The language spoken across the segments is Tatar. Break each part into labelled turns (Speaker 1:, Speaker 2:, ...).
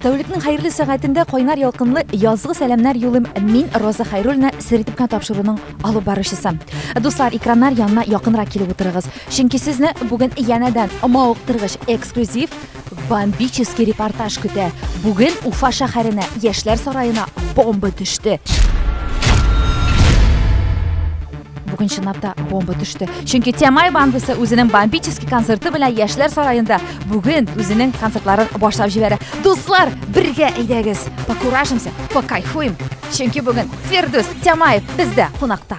Speaker 1: Тәүлекнең хәерле сәгатендә кайнар ялкынлы язгы сәламнәр юлым мин Роза Хайруллина Середипкан тапшыруның алып баручысы. Дуслар, экраннар янына якынрак килеп утырыгыз, чөнки сезне бүген янәдән мавыктыргыч эксклюзив бомбический репортаж көтә. Бүген Уфа шәһәренә, Яшьләр сараена бомба төште. Бүген чынлап та бомба төште. Чөнки Тямай бандасы үзенең бомбический концерты белән Яшьләр сараенда бүген үзенең концертларын башлап җибәрә. Дуслар, бергә әйдәгез, покуражимся, покайфуем. Чөнки бүген Фирдүс Тямаев бездә кунакта.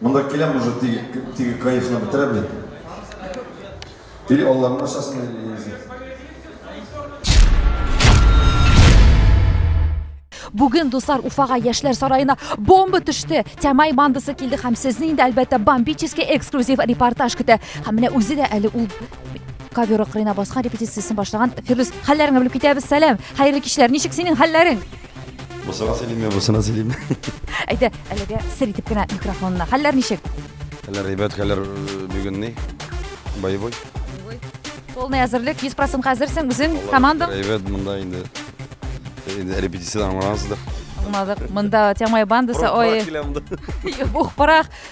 Speaker 2: Монда киләм уже теге кайфны бетерә бит. Или алланың ашасын, или нельзя.
Speaker 1: Бүген дуслар Уфага яшьләр сараена бомба төште. Тямай бандасы килде һәм сезне инде әлбәттә бомбический эксклюзив репортаж көтә. Һәм менә үзе дә әле ул ковер акрына баскан репетициясен башлаган Фирдүс хәлләреңне белеп китәбез. Сәлам. Хәерле кичләр. Ничек синең хәлләрең? Бусына
Speaker 2: сөйлиме, бусына сөйлиме? Әйдә,
Speaker 1: әлегә сер итеп кенә микрофонына. Хәлләр ничек? Хәлләр ребят,
Speaker 2: хәлләр э, бүген ни? Боевой.
Speaker 1: Полный әзерлек, 100% хәзерсең үзең, команда. Ребят, монда инде
Speaker 2: э, инде репетиция аңлансыздыр. Аңладык. Монда
Speaker 1: Тямай бандасы, ой. Ух, парах.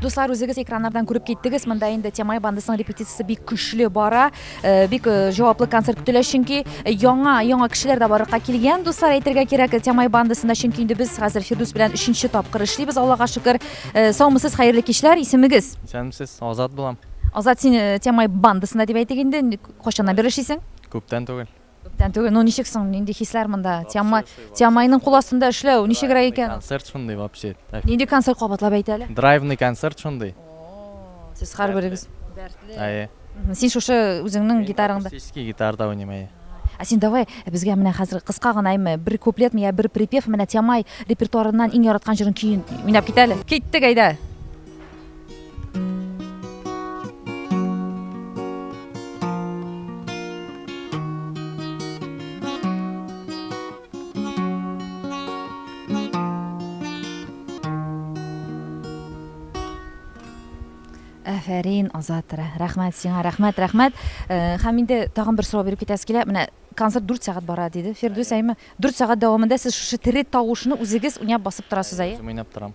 Speaker 1: Дуслар, үзегез экраннардан күреп киттегез, монда инде Темай бандасының репетициясе бик көчле бара, э, бик э, җаваплы концерт көтелә, чөнки э, яңа, яңа кешеләр дә барырга килгән, дуслар, әйтергә кирәк, Темай бандасында, чөнки инде без хәзер Фирдус белән өченче тапкыр эшлибез, Аллага шөкер. Саумысыз, хәерле кичләр, исемегез? Исәнмесез, Азат
Speaker 3: булам. Азат, син
Speaker 1: Темай бандасында дип әйтик инде, кайчаннан бер эшлисең? Күптән түгел.
Speaker 3: Күптән түгел, ну ничек
Speaker 1: соң, нинди хисләр монда? Тиамай, Тиамайның кул астында эшләү, ничегрәк икән? Концерт шундый вообще.
Speaker 3: Нинди концерт кабатлап
Speaker 1: әйт әле? Драйвный концерт шундый.
Speaker 3: Сез
Speaker 1: һәрберегез дәртле.
Speaker 3: Әйе. Син шушы
Speaker 1: үзеңнең гитараңда. Акустический гитарда уйныйм,
Speaker 3: әйе. Ә син давай
Speaker 1: безгә менә хәзер кыска гына әйме, бер куплетмы я бер припев менә Тиамай репертуарыннан иң яраткан җырын көен уйнап кит әле. Киттек, әйдә. Афәрин, Азат, рәхмәт сиңа, рәхмәт, рәхмәт. Э, һәм инде тагын бер сорау биреп китәсе килә. Менә концерт 4 сәгать бара диде. Фирдүс әйме, 4 сәгать дәвамында сез шушы тере тавышны үзегез уйнап басып торасыз әйе? Үзем уйнап торам.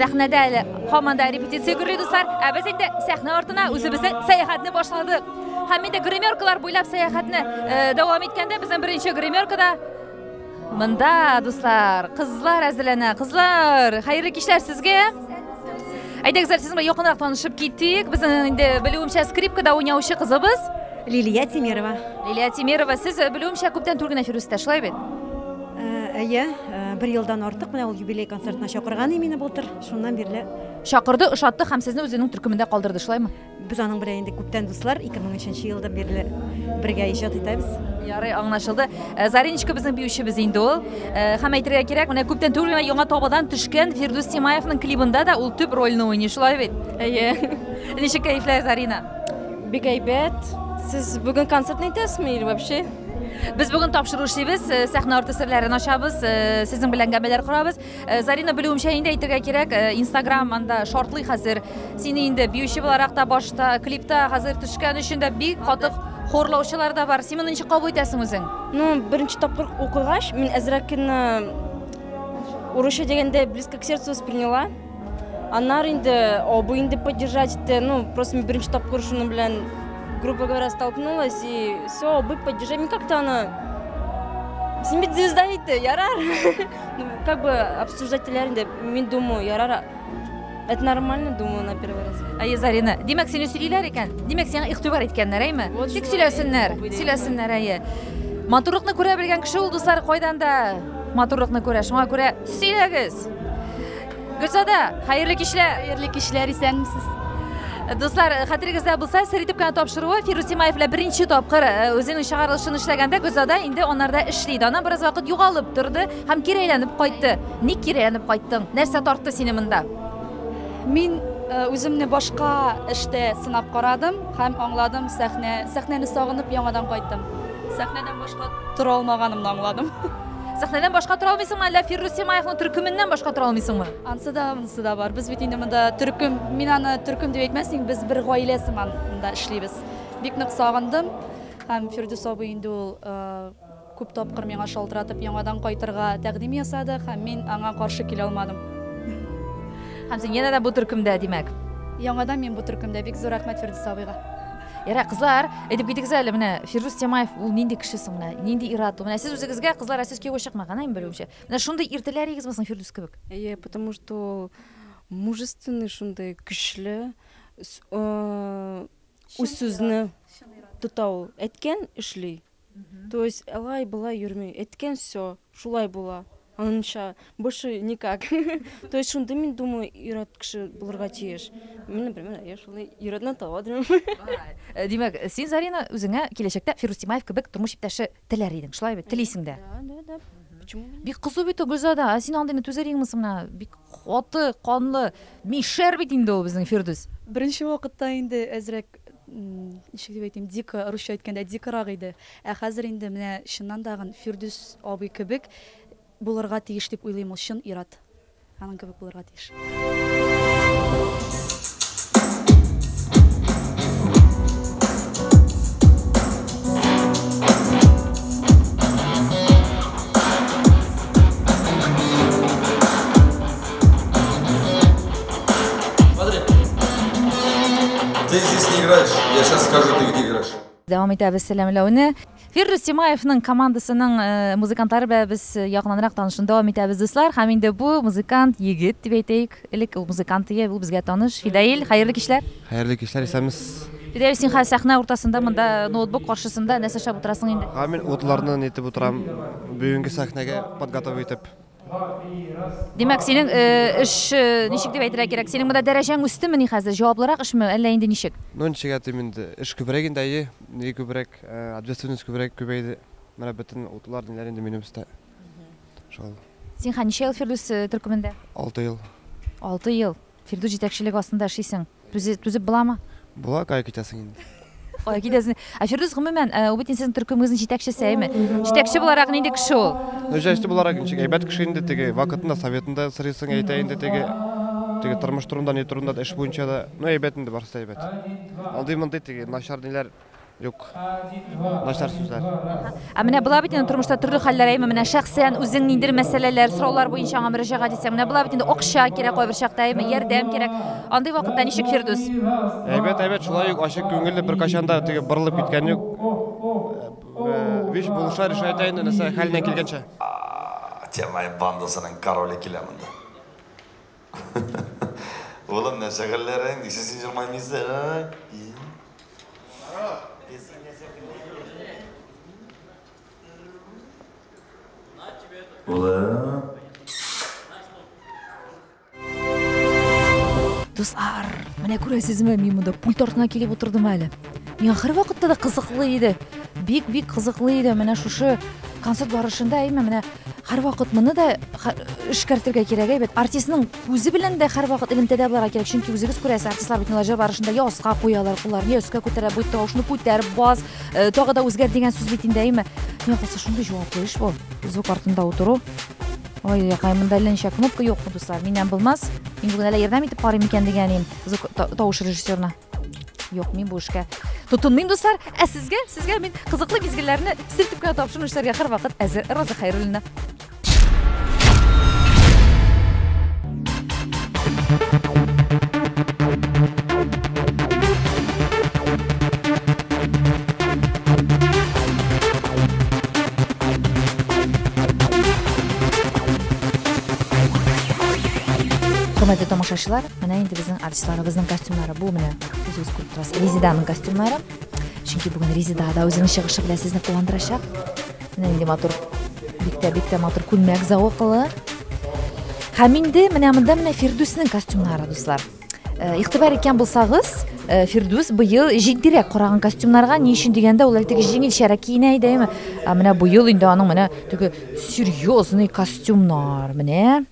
Speaker 1: Сәхнәдә әле һаман да репетиция гөрли, дуслар, ә без инде сәхнә артына үзебезнең сәяхәтне башладык. Һәм инде гримеркалар буйлап сәяхәтне дәвам иткәндә, безнең беренче гримеркада Монда, дуслар, кызлар әзерләнә. Кызлар, хәерле кичләр сезгә. Әйдәгез, сез белән якынрак танышып китик. Безнең инде белүемчә скрипкада уйнаучы кызыбыз Лилия Тимирова.
Speaker 4: Лилия Тимирова,
Speaker 1: сез э, белүемчә күптән түгел генә Фирүстә, шулай бит? Э, әйе,
Speaker 4: э, бер елдан артык менә ул юбилей концертына чакырган иде мине былтыр. Шуннан бирле Чакырды, ошатты
Speaker 1: һәм сезне үзенең төркемендә калдырды, шулаймы? Без аның белән инде
Speaker 4: күптән дуслар, 2003 елдан бирле бергә иҗат итәбез. Ярый, аңлашылды.
Speaker 1: Э, Зариночка безнең биючебез инде ул. Э, һәм әйтергә кирәк, менә күптән түгел генә яңа табадан төшкән Фирдүс Тимаевның клибында да ул төп рольне уйный, шулай бит? Әйе.
Speaker 5: Ничек кәефләр,
Speaker 1: Зарина? Бик әйбәт.
Speaker 5: Сез бүген концерт итәсезме или вообще? Без бүген
Speaker 1: тапшыру эшлибез, э, сәхнә арты серләрен ачабыз, сезнең белән гамәлләр корабыз. Э, Зарина белүемчә инде әйтергә кирәк, э, Instagram анда шортлый хәзер. Сине инде биюче буларак та башта, клипта хәзер төшкән өчен дә бик катык хорлаучылар да бар. Син моны ничек кабул итәсең үзең? Ну, беренче тапкыр
Speaker 5: укыгач, мин әзрәкне урысча дигәндә близко к сердцу восприняла. Аннар инде абый инде поддержать итте. Ну, просто мин беренче тапкыр шуның белән грубо говоря столкнулась и все, абый поддержать. Мин как-то аны Син бит звезда ите, ярар. Ну, как бы обсуждать теләр инде, мин думаю, ярар. Это нормально, думаю, на первый раз. Әйе, Зарина. Димәк,
Speaker 1: сине сөйлиләр икән. Димәк, сиңа игътибар иткәннәр, әйме? Вот Тик шулай, сөйләсеннәр, бу бит. сөйләсеннәр, әйе. Матурлыкны күрә белгән кеше ул, дуслар, кайдан да матурлыкны күрә. Шуңа күрә сөйләгез. Гөлзада, хәерле кичләр. Хәерле кичләр, исәнмесез.
Speaker 5: Дуслар,
Speaker 1: хәтерегездә булса, сер итеп кенә тапшыруы Фирус Тимаев белән беренче тапкыр э, үзенең чыгарылышын эшләгәндә Гөлзада инде анарда эшли иде. Аннан бераз вакыт югалып торды һәм кире әйләнеп кайтты. Ник кире әйләнеп кайттың? Нәрсә тартты сине монда? Мин
Speaker 6: э, үземне башка эштә сынап карадым һәм аңладым, сәхнә, сәхнәне сагынып яңадан кайттым. Сәхнәдән башка тора алмаганымны аңладым. Сәхнәдән башка
Speaker 1: тора алмыйсыңмы, әллә Фиррус Семаевның төркеменнән башка тора алмыйсыңмы? Ансы да, монысы да
Speaker 6: бар. Без бит инде монда төркем, мин аны төркем дип әйтмәсен, без бер гаилә сыман монда эшлибез. Бик нык сагындым. Һәм Фирдүс абый инде ул күп тапкыр миңа шалтыратып яңадан кайтырга тәкъдим ясады һәм мин аңа каршы килә алмадым.
Speaker 1: Һәм син янә дә бу төркемдә, димәк. Яңадан мин бу
Speaker 6: төркемдә. Бик зур рәхмәт Фирдүс абыйга. Ярай, кызлар,
Speaker 1: әйтеп китегез әле, менә Фирдус Тямаев ул нинди кеше соң менә, нинди ир-ат ул? Менә сез үзегезгә кызлар сез кияүгә чыкмаган, әйме белүемчә. Менә шундый ир теләрегезме соң Фирдус кебек? Әйе, потому что
Speaker 5: мужественный шундый көчле үз сүзне тота ул. Әйткән эшли. То есть алай болай йөрми, әйткән все, шулай була, анынча, больше никак. То есть шундый мин думаю ир-ат кеше булырга тиеш. Мин, например, я шулай ир-атны таба алмыйм. Э, Димәк,
Speaker 1: син Зарина үзеңә киләчәктә Фирус Тимаев кебек тормыш иптәше теләр идең, шулай бит? Телисең дә. Да, да, да. Почему
Speaker 5: бы нет? Бик кызу бит ул
Speaker 1: Гөлзада, ә син андыйны түзәр идеңме соң менә? Бик каты, канлы, мишәр бит инде ул безнең Фирдүс. Беренче вакытта
Speaker 6: инде әзрәк ничек дип әйтим, дико, русча әйткәндә, дикорак иде. Ә хәзер инде менә чыннан да гын Фирдүс абый кебек булырга тиеш дип уйлыйм ул, чын ир-ат аның кебек булырга тиеш.
Speaker 7: Смотри. Ты здесь не играешь. Я сейчас скажу, ты где играешь. Дәвам итәбез
Speaker 1: сәламләүне. Фирдус Тимаевның командасының э, музыкантлары белән без э, якыннанрак танышуны дәвам итәбез, дуслар. Һәм инде бу музыкант егет дип әйтәйек. Элек ул музыкант иде, ул безгә таныш. Фидаил, хәерле кичләр. Хәерле кичләр, исәнмез.
Speaker 8: Фидаил, син хәзер сәхнә
Speaker 1: уртасында, монда ноутбук каршысында нәрсә эшләп утырасың инде? Һәм мин утларны нитеп
Speaker 8: утырам. Бүгенге сәхнәгә подготовить итеп.
Speaker 1: Димәк, синең э, эш э, ничек дип әйтергә кирәк? Синең монда дәрәҗәң үстемени хәзер? Җаваплырак эшме, әллә инде ничек? Ну, ничек әйтим инде,
Speaker 8: эш күбрәк инде, әйе, ни күбрәк, э, ответственность күбрәк күбәйде. Менә бөтен утлар, ниләр инде минем өстә. Шул, Син хә ничә
Speaker 1: ел Фирдүс э, төркемендә? алты ел.
Speaker 8: Алты ел.
Speaker 1: Фирдүс җитәкчелеге астында эшлисең. Түзе, түзеп буламы? Була, кая китәсең
Speaker 8: инде. Кая китәсең?
Speaker 1: Ә Фирдүс гомумән, э, ул бит инде сезнең төркемегезнең җитәкчесе, әйме? Җитәкче буларак нинди кеше ул? Ну, җитәкче буларак
Speaker 8: ничек, әйбәт кеше инде, теге вакытында советында сорыйсың, әйтә инде теге, теге тормыш турында, ни турында да, эш буенча да. Ну, әйбәт инде, барысы да әйбәт. Андый-мондый теге начар ниләр. Юк. Начар сүзләр. Ә менә була бит
Speaker 1: инде тормышта төрле хәлләр әйме менә шәхсән үзең ниндер мәсьәләләр, сораулар буенча аңа мөрәҗәгать итсәң, менә була бит инде акча кирәк кайбер чакта әйме, ярдәм кирәк. Андый вакытта ничек Фирдүс? Әйбәт, әйбәт,
Speaker 8: шулай ук ачык күңелле беркайчан да теге борылып киткән юк. Вич булыша решайтә инде нәрсә хәленнән килгәнчә. Темай
Speaker 2: бандасының короле килә монда. Улым, нәрсә хәлләрең? Нисә син җылмаймыйсың? Улым.
Speaker 1: Дуслар, менә күрәсезме, мин монда пульт артына килеп утырдым әле. Миңа һәрвакытта да кызыклы иде. Бик-бик кызыклы иде. Менә шушы концерт барышында әйме менә һәрвакыт моны да эшкәртергә кирәк әйбәт. Артистның күзе белән дә һәрвакыт элемтәдә булырга кирәк, чөнки үзегез күрәсез, артистлар бит җыр барышында я аска куялар кулларын, я өскә күтәрә, бу тавышны күтәр, бас, э, тагы да үзгәр дигән сүз бит инде әйме. Миңа калса шундый җаваплы эш бу. Звук артында утыру. Ой, якай, монда әллә ничә кнопка юкмы, дуслар? Миннән булмас. Мин бүген әллә ярдәм итеп карыйм икән дигән идем звук тавыш режиссерына. Юк, мин бу эшкә тотынмыйм, дуслар. Ә сезгә, сезгә мин кызыклы мизгелләрне сертеп кенә тапшыру эшләргә һәрвакыт әзер. Роза Хәйруллина. Хөрмәтле тамашачылар, Менә инде безнең артистларыбызның костюмнары бу менә үзегез күреп торасыз. Резиданың костюмнары. Чөнки бүген Резида да үзенең чыгышы белән сезне куандырачак. Менә инде матур бик тә бик тә матур күлмәк зәвыклы. Һәм инде менә монда менә Фирдүснең костюмнары, дуслар. Э, игътибар иткән булсагыз, э, Фирдүс быел җитдирәк караган костюмнарга, ни өчен дигәндә, ул әлеге җиңелчәрәк киенә иде, әйме? Ә менә быел инде аның менә теге серьезный костюмнар, менә.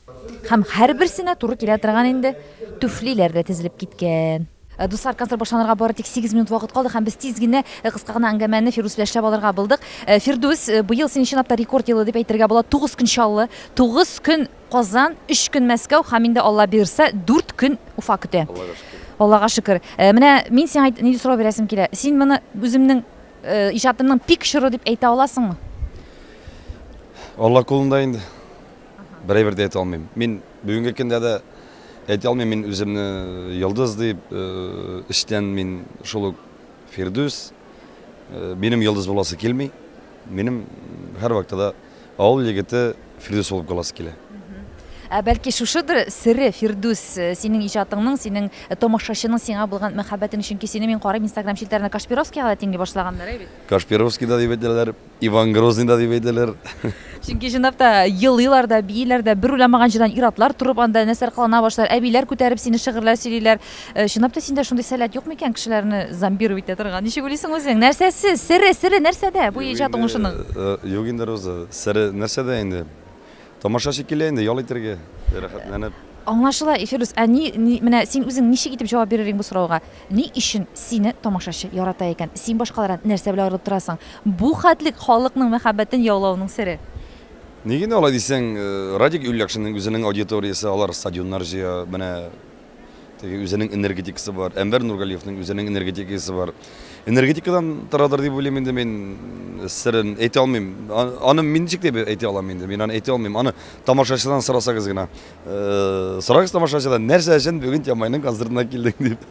Speaker 1: Һәм һәрберсенә туры килә торган инде түфлиләр дә тезелеп киткән. Э, дуслар, концерт башланырга бары тик 8 минут вакыт калды һәм без тиз генә э, кыска гына әңгәмәне Фирдүс белән эшләп алырга булдык. Э, Фирдүс, быел синең чынлап та рекорд елы дип әйтергә була. 9 көн Чаллы, 9 көн Казан, 3 көн Мәскәү һәм инде Алла бирса 4 көн Уфа көтә. Аллага шөкер. Менә мин сиңа нинди сорау бирәсем килә. Син моны үземнең иҗатымның пик чоры дип әйтә аласыңмы?
Speaker 2: Алла кулында инде. Берәйбер дә әйтә алмыйм. Мин бүгенге көндә дә әйтә алмыйм, мин үземне йолдыз дип, эчтән мин шул ук Фирдүс. Минем йолдыз буласы килми. Минем һәр вакытта да авыл егете Фирдүс булып каласы килә. Ә бәлки
Speaker 1: шушыдыр сере Фирдүс, э, синең иҗатыңның, синең э, томашачының сиңа булган мәхәббәтең, чөнки сине мин карыйм Инстаграм челтәренә Кашпировскийга да тиңли башлаганнар, әй бит. Кашпировский да дип
Speaker 2: әйтәләр. Иван Грозный да дип әйтәләр. Чөнки җыйнап
Speaker 1: та елыйлар да, бииләр дә, бер уйламаган җирдән ир-атлар торып анда нәрсәләр кылана башлар, әбиләр күтәреп сине шигырьләр сөйлиләр. Э, Чынлап та синдә шундый сәләт юк микән кешеләрне зомбировать итә торган? Ничек уйлыйсың үзең? Нәрсәсе, сере, сере нәрсәдә бу иҗат уңышының? Э, Юк инде, Роза,
Speaker 2: сере нәрсәдә инде? Тамаша шикелле инде, ял итәргә, рәхәтләнеп. Аңлашыла,
Speaker 1: Фирдүс, ә ни, ни, менә син үзең ничек итеп җавап бирер идең бу сорауга? Ни өчен сине тамашачы ярата икән? Син башкалардан нәрсә белән аерылып торасың? Бу хәтлек халыкның мәхәббәтен яулавыңның сере? Ни генә алай
Speaker 2: дисәң, Радик Юльякшинның үзенең аудиториясе, алар стадионнар җыя, менә, Теге үзенең энергетикасы бар. Әнвәр Нургалиевның үзенең энергетикасы бар. Энергетикадан торадыр дип уйлыйм инде мин сырын әйтә алмыйм. Аны мин ничек дип әйтә алам инде? Мин аны әйтә алмыйм. Аны тамашачыдан сорасагыз гына. Э, сорагыз тамашачыдан, нәрсә өчен бүген Тямайның концертына килдең дип.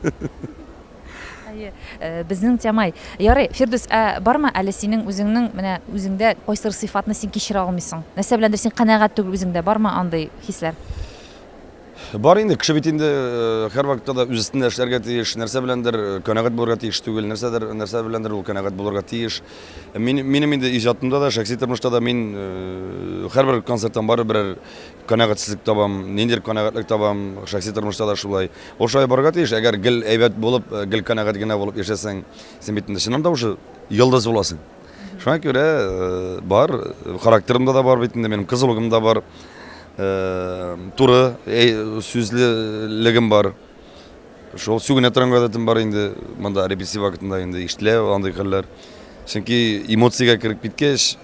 Speaker 2: Әйе,
Speaker 1: э, безнең Тямай. Ярый, Фирдүс, ә бармы әле синең үзеңнең менә үзеңдә кайсыр сыйфатны син кичерә алмыйсың? Нәрсә беләндер син канәгать түгел үзеңдә, бармы андый хисләр?
Speaker 2: Бар инде, кеше бит инде һәрвакытта да үз өстендә эшләргә тиеш, нәрсә беләндер канәгать булырга тиеш түгел, нәрсәдер, нәрсә беләндер ул канәгать булырга тиеш. Мин, минем инде иҗатымда да, шәхси тормышта да мин һәрбер концерттан барып берәр канәгатьсезлек табам, ниндидер канәгатьлек табам, шәхси тормышта да шулай. Ул шулай барырга тиеш, әгәр гел әйбәт булып, гел канәгать генә булып яшәсәң, син бит инде чыннан да уже йолдыз буласың. Шуңа күрә бар, характерымда да бар бит инде, минем кызылыгым да бар, туры сүзлелегем бар. Шул сүгенә торган гадәтем бар инде, монда репрессив вакытында инде иштелә андый хәлләр. Чөнки эмоциягә кереп киткәч,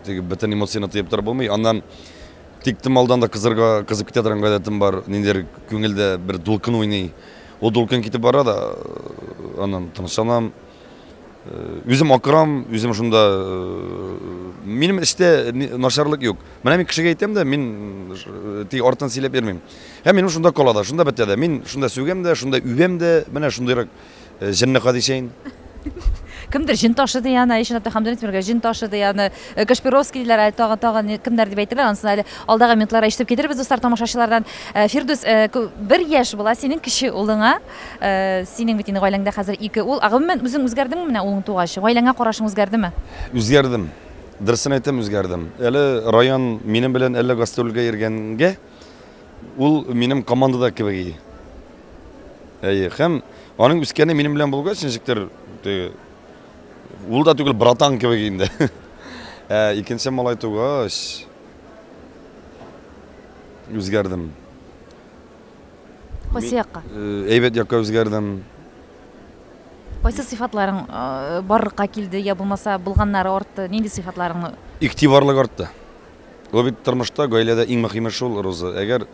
Speaker 2: теге бөтен эмоцияне тыеп торып булмый. Аннан тиктем алдан да кызырга кызып китә торган гадәтем бар ниндидер күңелдә бер дулкын уйный ул дулкын китеп бара да аннан тынычланам Үзем акырам, үзем шунда минем эштә начарлык юк. Менә мин кешегә әйтәм дә, мин тик артын сөйләп йөрмим. Һәм минем шунда кала да, шунда бетә дә. Мин шунда сүгәм дә, шунда үбәм дә, менә шундыйрак җенне хадисәен.
Speaker 1: кемдер җен ташы ди аны Айшин Абдухамдуллин Тимергә җен ташы ди аны э, Кашпировский диләр әле тагын тагын кемнәр дип әйтәләр ансын әле алдагы минутларда ишетеп китербез дуслар тамашачылардан э, Фирдүс э, бер яшь була синең кече улыңа Синең бит инде гаиләңдә хәзер ике ул. Ә гомумән үзең үзгәрдеңме менә улың тугач? Гаиләңә карашың үзгәрдеме? Үзгәрдем.
Speaker 2: Дөресен әйтәм, үзгәрдем. Әле Раян минем белән әллә гастрольгә йөргәнгә, ул минем командада кебек иде. Әйе, һәм аның үскәне минем белән булгач, ничектер теге ул да түгел, братан кебек инде. Ә икенче малай тугач, үзгәрдем.
Speaker 1: Кайсы якка? Әйбәт якка
Speaker 2: үзгәрдем.
Speaker 1: Кайсы сыйфатларың барлыкка килде, я булмаса булганнары артты? Нинди сыйфатларыңны? Игътибарлык артты.
Speaker 2: Ул бит тормышта, гаиләдә иң мөһиме шул, Роза. Әгәр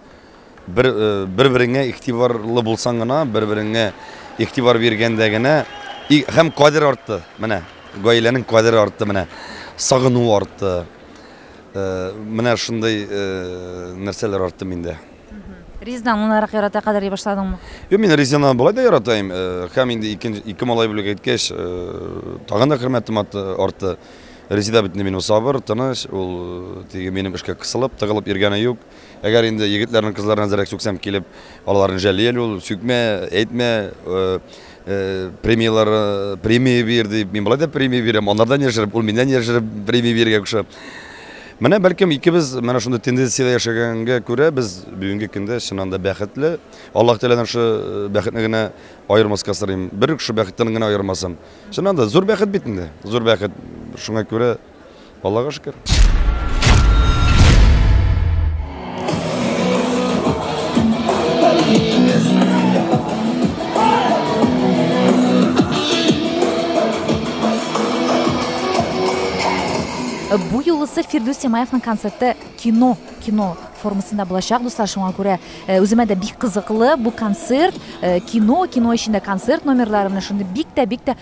Speaker 2: бер бер-береңә игътибарлы булсаң гына, бер-береңә игътибар биргәндә генә һәм кадер артты. Менә гаиләнең кадере артты менә. Сагыну артты. Менә шундый нәрсәләр артты миндә. Резидан
Speaker 1: моңнарак ярата кадәр башладыңмы? Юк, мин Резиданы
Speaker 2: болай да яратайм. Э, һәм инде икенче ике малай бүләк иткәч, э, тагын да хөрмәтем артты. Резида бит минем сабыр, тыныч, ул э, теге минем эшкә кысылып, тыгылып йөргәне юк. Әгәр инде егетләрнең кызларына зәрәк сүксәм килеп, аларны жәлләл ул, сүкмә, әйтмә. Премияләр, премия бир дип, мин болай да премия бирәм, аннардан яшереп, ул миннән яшереп премия бирергә куша. Менә бәлкем икебез менә шундый тенденциядә яшәгәнгә күрә без бүгенге көндә чыннан да бәхетле. Аллаһ Тәгаләдән шул э, бәхетне генә аермаска сорыйм. Бер шул бәхеттән генә аермасын. Чыннан да зур бәхет бит инде. Зур бәхет. Шуңа күрә Аллага шөкер.
Speaker 1: Бу юлысы Фирдүс Тимаевның концерты кино, кино формасында булачак, дуслар, шуңа күрә э, үземә дә бик кызыклы бу концерт, э, кино, кино эчендә концерт номерлары менә шундый бик тә бик тә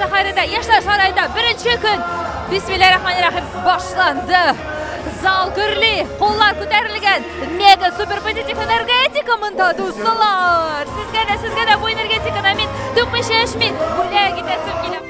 Speaker 1: Сәхәрәдә яшьләр сарайында беренче көн Бисмиллахиррахманиррахим башланды. Зал гөрли, куллар күтәрелгән. Мега супер позитив энергетика монда дуслар. Сезгә дә, сезгә дә бу энергетиканы мин түкмичә эчмим. Бүләк итәсем килә.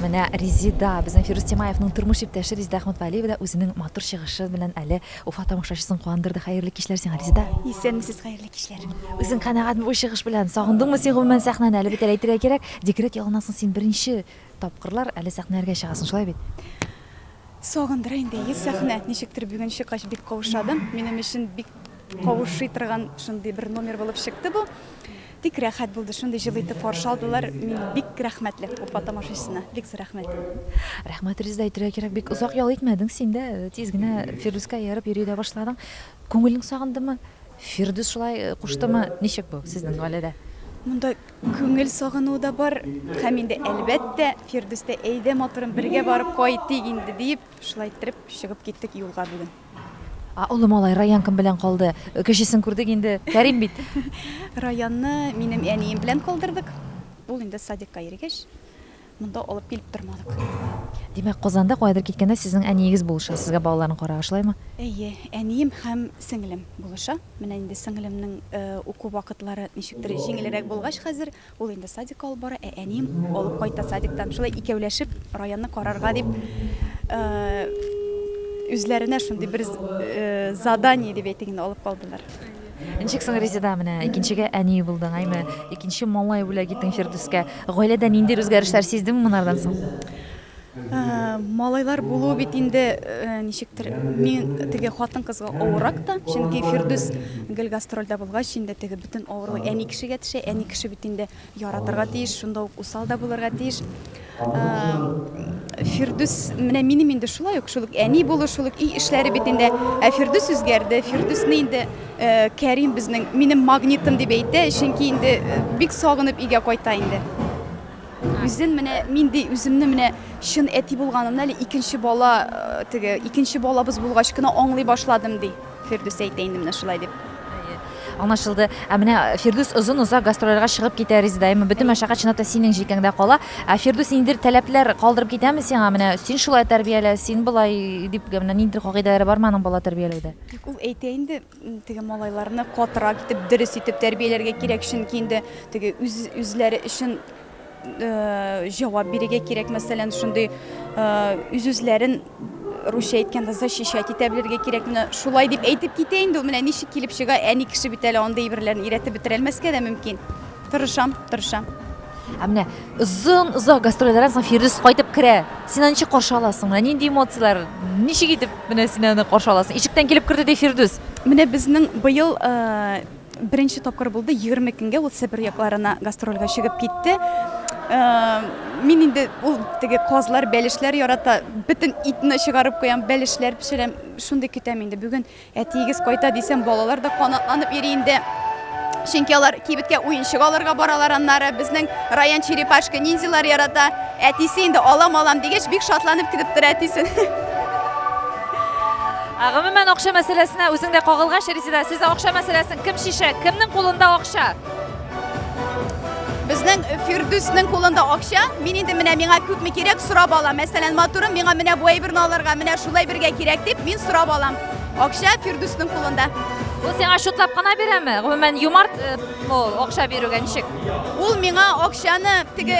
Speaker 1: Менә Резида, безнең Фирус Тимаевның тормыш иптәше Резида Әхмәтвәлиева да үзенең матур чыгышы белән әле Уфа тамашачысын куандырды. Хәерле кичләр сиңа, Резида. Исәнмесез, хәерле
Speaker 4: кичләр. Үзең канәгатьме бу
Speaker 1: чыгыш белән? Сагындыңмы син гомумән сәхнәне? Әле бит әле әйтергә кирәк, декрет ялыннан соң син беренче тапкырлар әле сәхнәләргә чыгасың, шулай бит?
Speaker 9: Сагындыра инде, әйе, сәхнә. Ничектер бүген чыккач бик каушадым. Минем өчен бик каушый торган шундый бер номер булып чыкты бу. Бик рәхәт булды, шундый җылы итеп каршы алдылар, мин бик рәхмәтле Уфа тамашачысына, бик зур рәхмәт. Рәхмәт, Резеда,
Speaker 1: әйтергә кирәк, бик озак ял итмәдең син дә, тиз генә Фирдүскә ияреп йөри дә башладың. Күңелең сагындымы? Фирдүс шулай куштымы? Ничек бу сезнең гаиләдә? Монда
Speaker 9: күңел сагынуы да бар һәм инде, әлбәттә, Фирдүс тә, әйдә, матурым, бергә барып кайтыйк инде, диеп, шулай иттереп чыгып киттек юлга бүген. А, олы
Speaker 1: малай, Раян кем белән калды? Кечесен күрдек инде, Кәрим бит. Раянны
Speaker 9: минем әнием белән калдырдык. Ул инде садикка йөргәч, монда алып килеп тормадык. Димәк,
Speaker 1: Казанда каядыр киткәндә сезнең әниегез булыша, сезгә балаларны карарга, шулаймы? Әйе, әнием
Speaker 9: һәм сеңлем булыша. Менә инде сеңлемнең уку вакытлары ничектер җиңелрәк булгач хәзер, Ул инде садикка алып бара, ә әнием алып кайта садиктан. Шулай икәүләшеп районны карарга дип үзләренә шундый бер задание дип әйтик инде алып калдылар. Ничек соң
Speaker 1: Резеда менә икенчегә әни булдың, әйме? Икенче малай бүләк иттең Фирдүскә. Гаиләдә ниндидер үзгәрешләр сиздеңме монардан соң? Малайлар
Speaker 9: булу бит инде ничектер мин теге хатын-кызга авырак та, чөнки Фирдүс гел гастрольдә булгач инде теге бөтен авырлык әни кешегә төшә. Әни кеше бит инде яратырга тиеш, шунда ук усал да булырга тиеш. Фирдүс менә минем инде шулай ук, шул ук әни булу, шул ук өй эшләре бит инде. Ә Фирдүс үзгәрде. Фирдүсне инде Кәрим безнең минем магнитым дип әйтә, чөнки инде бик сагынып өйгә кайта инде. Үзен менә мин ди үземне менә чын әти булганымны әле икенче бала теге икенче балабыз булгач кына аңлый башладым ди Фирдүс әйтә инде менә шулай дип. Аңлашылды.
Speaker 1: Ә менә Фирдүс озын озак гастрольләргә чыгып китә Резедаема. Бөтен мәшәкать чынлап та синең җилкәңдә кала. Ә Фирдүс ниндидер таләпләр калдырып китәме сиңа? Менә син шулай тәрбиялә, син болай дип менә ниндидер кагыйдәләре бармы аның бала тәрбияләүдә? Тик ул әйтә инде,
Speaker 9: Теге малайларны катырак итеп, дөрес итеп тәрбияләргә кирәк, чөнки инде теге үз үзләре өчен җавап бирергә кирәк. Мәсәлән, шундый үз үзләрен русча әйткәндә защищать итә белергә кирәк. Менә шулай дип әйтеп китә инде, менә ничек килеп чыга, әни кеше бит әле андый әйберләрне өйрәтеп бетерәлмәскә дә мөмкин. Тырышам, тырышам.
Speaker 1: Ә менә озын озак гастрольләрдән соң Фирдүс кайтып керә. Син аны ничек каршы аласың? Менә нинди эмоцияләр? Ничек итеп менә син аны каршы аласың? Ишектән килеп керде ди Фирдүс. Менә безнең
Speaker 9: быел э, беренче тапкыр булды, 20 көнгә ул Себер якларына гастрольгә чыгып китте. Э, мин инде ул теге казлар, бәлешләр ярата, бөтен итне чыгарып куям, бәлешләр пешерәм, шундый көтәм инде. Бүген Әтиегез кайта дисәм, балалар да канатланып йөри инде. Чөнки алар кибеткә уенчык алырга баралар аннары. Безнең Раян черепашка ниндзялар ярата. Әтисе инде алам алам дигәч, бик шатланып китеп тора әтисен.
Speaker 1: Ә гомумән акча мәсьәләсенә үзең дә кагылгач, Резеда, сез акча мәсьәләсен кем чишә? Кемнең кулында акча?
Speaker 9: Безнең Фирдүснең кулында акча, мин инде менә миңа күпме кирәк сорап алам. Мәсәлән, матурым миңа менә бу әйберне алырга, менә шулай бергә кирәк дип, мин сорап алам. Акча Фирдүснең кулында. Ул сиңа шутлап
Speaker 1: кына бирәме? Гомумән юмарт э, ул акча бирүгә ничек? Ул миңа
Speaker 9: акчаны теге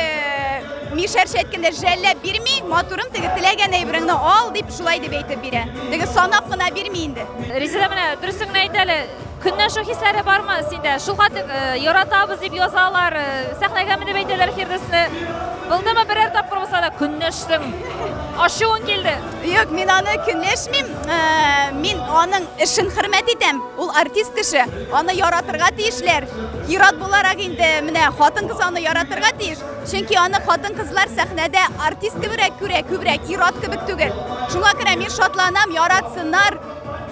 Speaker 9: мишәрчә әйткәндә жәлләп бирми, матурым теге теләгән әйбереңне ал дип шулай дип әйтеп бирә. Теге санап кына бирми инде. Резеда менә дөресен
Speaker 1: генә әйт әле. Көнләшү хисләре бармы синдә? Шул хәтле яратабыз дип язалар, сәхнәгә менеп әйтәләр Фирдүсне. Булдымы берәр тапкыр булса да көнләштең? Ашуың килде? Юк, мин аны
Speaker 9: көнләшмим. Мин аның эшен хөрмәт итәм. Ул артист кеше. Аны яратырга тиешләр. Ират буларак инде менә хатын-кыз аны яратырга тиеш. Чөнки аны хатын-кызлар сәхнәдә артист кебегрәк күрә, күбрәк ират кебек түгел. Шуңа күрә мин шатланам, яратсыннар.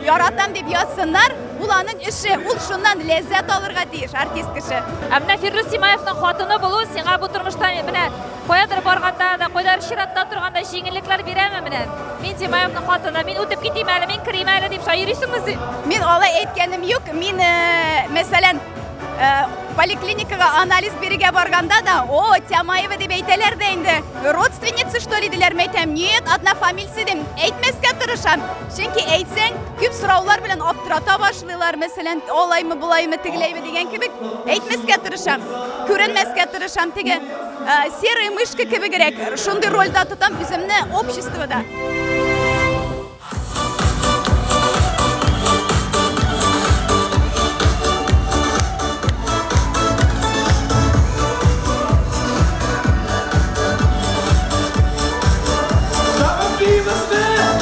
Speaker 9: Яратам дип язсыннар, ул аның эше, ул шуннан ләззәт алырга тиеш артист кеше. Ә менә Фирдүс
Speaker 1: Симаевның хатыны булу сиңа бу тормышта менә каядыр барганда да, кайдадыр чиратта торганда җиңеллекләр бирәме менә? Мин Симаевның хатыны, мин үтеп китим әле, мин керим әле дип шаерисеңме син? Мин алай әйткәнем
Speaker 9: юк. Мин, э, мәсәлән, э, поликлиникага анализ бирергә барганда да, о, Тямаева дип әйтәләр дә инде, родственница что ли диләр, мәйтәм, нет, одна фамилия дим, әйтмәскә тырышам. Чөнки әйтсәң, күп сораулар белән аптырата башлыйлар, мәсәлән, алаймы, булаймы, тегеләйме дигән кебек, әйтмәскә тырышам, күренмәскә тырышам, теге серый мышка кебегрәк, шундый рольдә тотам үземне обществода.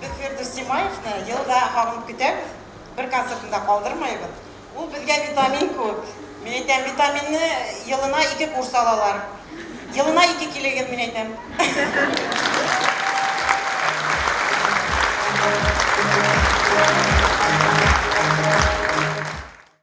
Speaker 10: Без Фирдүс Тимаевны ел да кабынып көтәбез, бер концертын да калдырмыйбыз. Ул безгә витамин куып. Мин әйтәм, витаминны елына ике курс алалар. Елына ике килегез, мин әйтәм.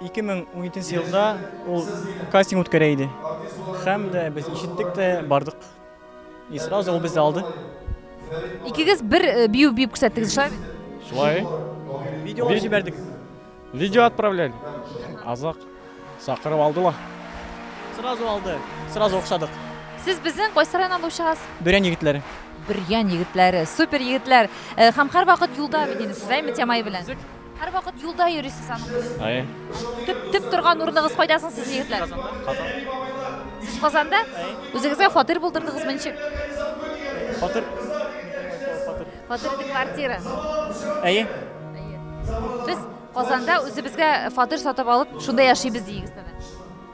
Speaker 11: 2017 елда ул кастинг үткәрә иде. Һәм дә без ишеттек тә бардык. И сразу ул безне алды. Икегез
Speaker 1: бер э, бию биеп күрсәттегез, шулай бит? Шулай.
Speaker 3: Видео Ви-
Speaker 11: җибәрдек. Видео
Speaker 3: отправляли. Азак. Сакырып алдылар. Сразу
Speaker 11: алды. Сразу охшадык. Сез безнең
Speaker 1: кайсы районнан булып чыгасыз? Бөрән егетләре.
Speaker 11: Бөрьян
Speaker 1: егетләре, супер егетләр. Э, Һәм һәрвакыт юлда бит инде сез, әйме, Тямай белән. Һәрвакыт юлда йөрисез аның белән. Әйе. Төп
Speaker 3: төп торган
Speaker 1: урыныгыз кайда соң сез егетләр? Казанда. Казан. Сез Казанда? Үзегезгә фатир булдырдыгызмы ничек?
Speaker 11: Фатир.
Speaker 1: Фатир ди квартира. Әйе. Без Казанда үзебезгә фатир сатып алып, шунда яшибез дигез әле.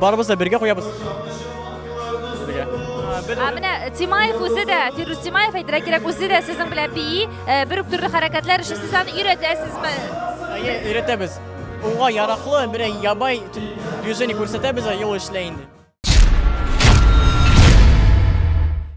Speaker 11: Барыбыз да бергә куябыз.
Speaker 1: Ә менә Тимаев үзе дә, Фирус Тимаев әйтергә кирәк, үзе дә сезнең белән бии, бер үк төрле хәрәкәтләр өчен сез аны өйрәтәсезме? Әйе,
Speaker 11: өйрәтәбез. Уңга яраклы, бер ябай движение күрсәтәбез, юл эшләй инде.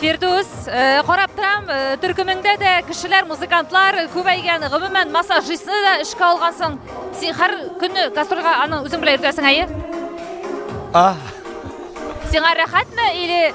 Speaker 1: Фирдус, э, карап торам, э, төркемеңдә дә кешеләр, музыкантлар күбәйгән. Гомумән, массажистны да эшкә алгансың. Син һәр көнне гастрольгә аны үзең белән йөртәсең, әйе? А. Сиңа рәхәтме или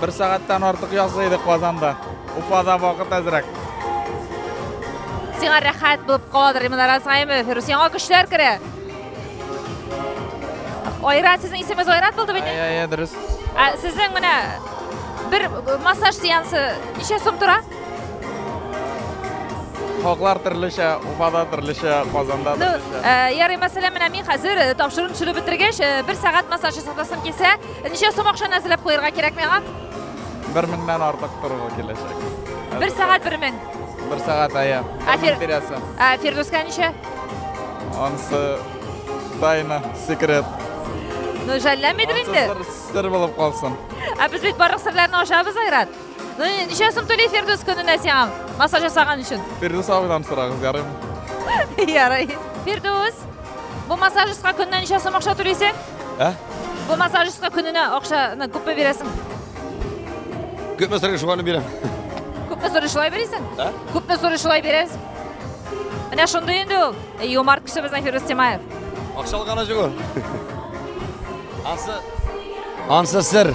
Speaker 1: Бер сәгатьтән
Speaker 3: артык язгы иде Казанда. Уфада вакыт әзрәк.
Speaker 1: Сиңа рәхәт булып каладыр, Иман Аразгаемов. Рус яңа көчләр керә. Айрат, сезнең исемегез Айрат булды бит? Әйе, әйе, дөрес. Ә
Speaker 3: сезнең менә
Speaker 1: бер массаж сеансы ничә сум тора?
Speaker 3: Хаклар төрлечә, Уфада төрлечә, Казанда ну, төрлечә. Э, ярый, мәсәлән, менә
Speaker 1: мин хәзер э, тапшыруны төшереп бетергәч, э, бер сәгать массаж ясатасым килсә, Ничә сум акчаны әзерләп куярга кирәк миңа? Бер меңнән
Speaker 3: артык торуы киләчәк. Бер сәгать бер
Speaker 1: мең. Бер сәгать әйе.
Speaker 3: Ә Фир... бирәсе. Ә Фирдүскә
Speaker 1: ничә? Ансы
Speaker 3: тайна, секрет. Ну,
Speaker 1: жәлләмидер инде. Сер булып калсын.
Speaker 3: Ә без бит барлык
Speaker 1: серләрне ачабыз, Айрат. Ну, ничә сум түли Фирдус көненә сиңа массаж жасаган өчен? Фирдус абыйдан сорагыз,
Speaker 3: ярыймы? Ярый.
Speaker 1: Фирдус, бу массажистка көненә ничә сум акча түлисең? Ә? Бу массажистка көненә акчаны күпме бирәсең?
Speaker 2: Күпме сорый шуны бирәм. Күпме сорый
Speaker 1: шулай бирәсең? Ә? Күпме сорый шулай бирәс? Менә шундый инде ул. Юмарт кеше безнең Фирдус Тимаев. Акча алган ачыгы.
Speaker 2: Ансы. Ансы сер.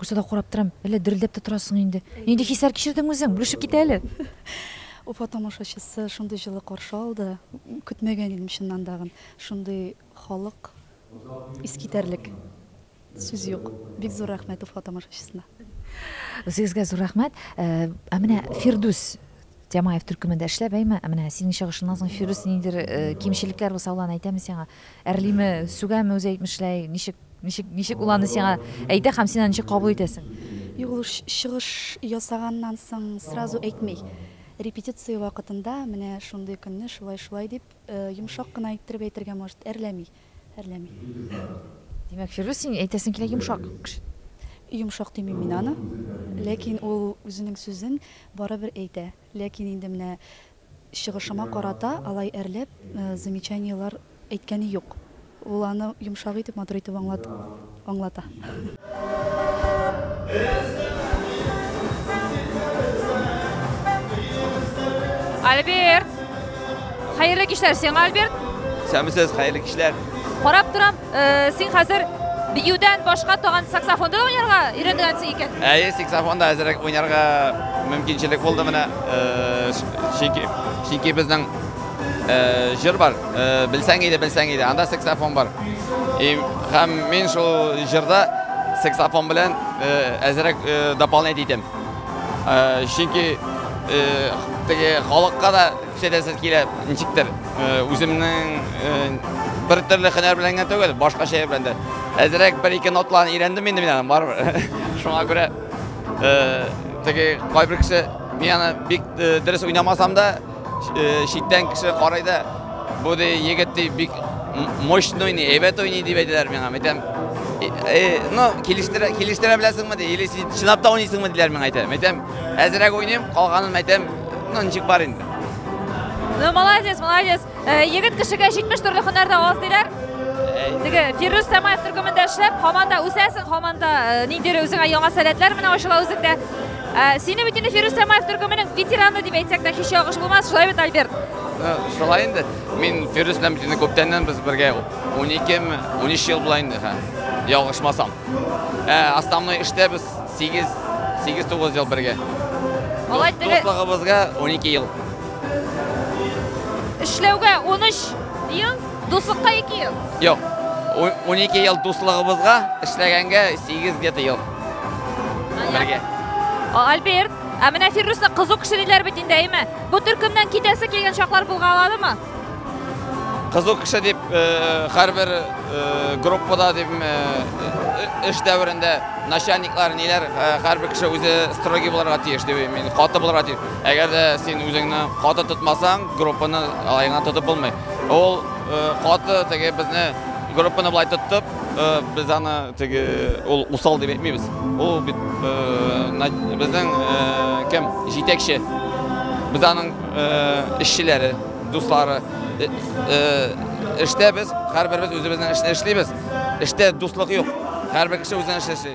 Speaker 1: Күрсә дә карап торам, әллә дерелдәп тә торасың инде. Нинди хисләр кичердең үзең? Бүлешеп кит әле. Уфа
Speaker 6: тамашачысы шундый җылы каршы алды. Көтмәгән идем чыннан тагын. Шундый халык, искитәрлек. Сүз юк. Бик зур рәхмәт Уфа тамашачысына. Үзегезгә
Speaker 1: зур рәхмәт. Ә менә Фирдүс Тямаев төркемендә эшләп әйме, ә менә синең чыгышыңнан соң Фирүс ниндидер кимчелекләр булса ул аны әйтәме сиңа? Әрлиме, сүгәме үзе әйтмешляй? Ничек, ничек, ничек ул аны сиңа әйтә һәм син аны ничек кабул итәсең? Юк, ул
Speaker 6: чыгыш ясаганнан соң сразу әйтми. Репетиция вакытында менә шундый көнне шулай-шулай дип йомшак кына иттереп әйтергә может, әрләми. әрләми.
Speaker 1: Димәк, Фирдүс, син әйтәсең килә йомшак кеше. Йомшак
Speaker 6: димим мин аны. Ләкин ул үзенең сүзен барыбер әйтә. Ләкин инде менә чыгышыма карата алай әрләп замечаниеләр әйткәне юк. Ул аны йомшак итеп, матур итеп аңлат. аңлата.
Speaker 1: Альберт! Хәерле кичләр сиңа, Альберт! Сәмисез, хәерле
Speaker 12: кичләр! Карап торам,
Speaker 1: э, син хәзер биюдән башка тагын саксофонда уйнарга өйрәнгәнсең икән. Әйе, саксофонда әзрәк
Speaker 12: уйнарга мөмкинчелек булды менә. Э, чөнки чөнки безнең Җыр бар, белсәң иде, белсәң иде, анда саксофон бар. И һәм мин шул җырда саксофон белән әзрәк дополнять итәм. Чөнки теге халыкка да шәдәсез килә, ничектер. Үземнең бер төрле хөнәр белән генә түгел, башка шәһәр белән дә. Әзрәк бер-ике ноталарны өйрәндем инде мин аны, барыбер. Шуңа күрә теге кайбер кеше мин аны бик дөрес уйнамасам да, Читтән кеше карай да, бу ди егет ди бик мощный уйный, әйбәт уйный дип әйтәләр миңа. Әйтәм, э, ну, килештерә, килештерә беләсеңме ди, или син чынлап та уйныйсыңмы диләр миңа әйтәм. Әйтәм, әзрәк уйныйм, калганын әйтәм, ну, ничек бар инде.
Speaker 1: Ну, молодец, молодец. Э, егет кешегә 70 төрле һөнәр дә аз диләр. Теге Фирүз Самаев төркемендә эшләп, һаман да үсәсең, һаман да э, ниндидер үзеңә яңа сәләтләр менә ачыла үзеңдә. Ә, сине бит инде Фирүз Самаев төркеменең ветераны дип әйтсәк тә һич ялгыш булмас, шулай бит, Альберт? Ә, шулай инде.
Speaker 12: Мин Фирүз белән бит күптәннән без бергә 12 ме, 13 ел була инде, ха. Ялгышмасам. Ә, основной эштә без 8 8-9 ел бергә. Алай
Speaker 1: теге- Дуслыгыбызга 12 ел. Эшләүгә 13 ел, дуслыкка 2 ел. Юк.
Speaker 12: 12 ел дуслыгыбызга, эшләгәнгә 8 где-то ел. Бергә.
Speaker 1: Альберт, ә менә Фиррусны кызу кеше диләр бит инде, әйме? Бу төркемнән китәсе килгән чаклар булгаладымы?
Speaker 12: Кызу кеше дип һәрбер э, э, группада дип э, эш дәверендә начальниклар ниләр һәрбер кеше үзе строгий буларга тиеш дип мин каты буларга тиеш. Әгәр дә син үзеңне каты тотмасаң, группаны алайыңа тотып булмый. Ул каты теге безне группаны былай тоттып, Без аны теге ул усал дип әйтмибез. Ул бит безнең кем? Җитәкче. Без аның эшчеләре, дуслары. Эштә без һәрберебез үзебезнең эшне эшлибез. Эштә дуслык юк. Һәрбер кеше үзенең эшен эшли.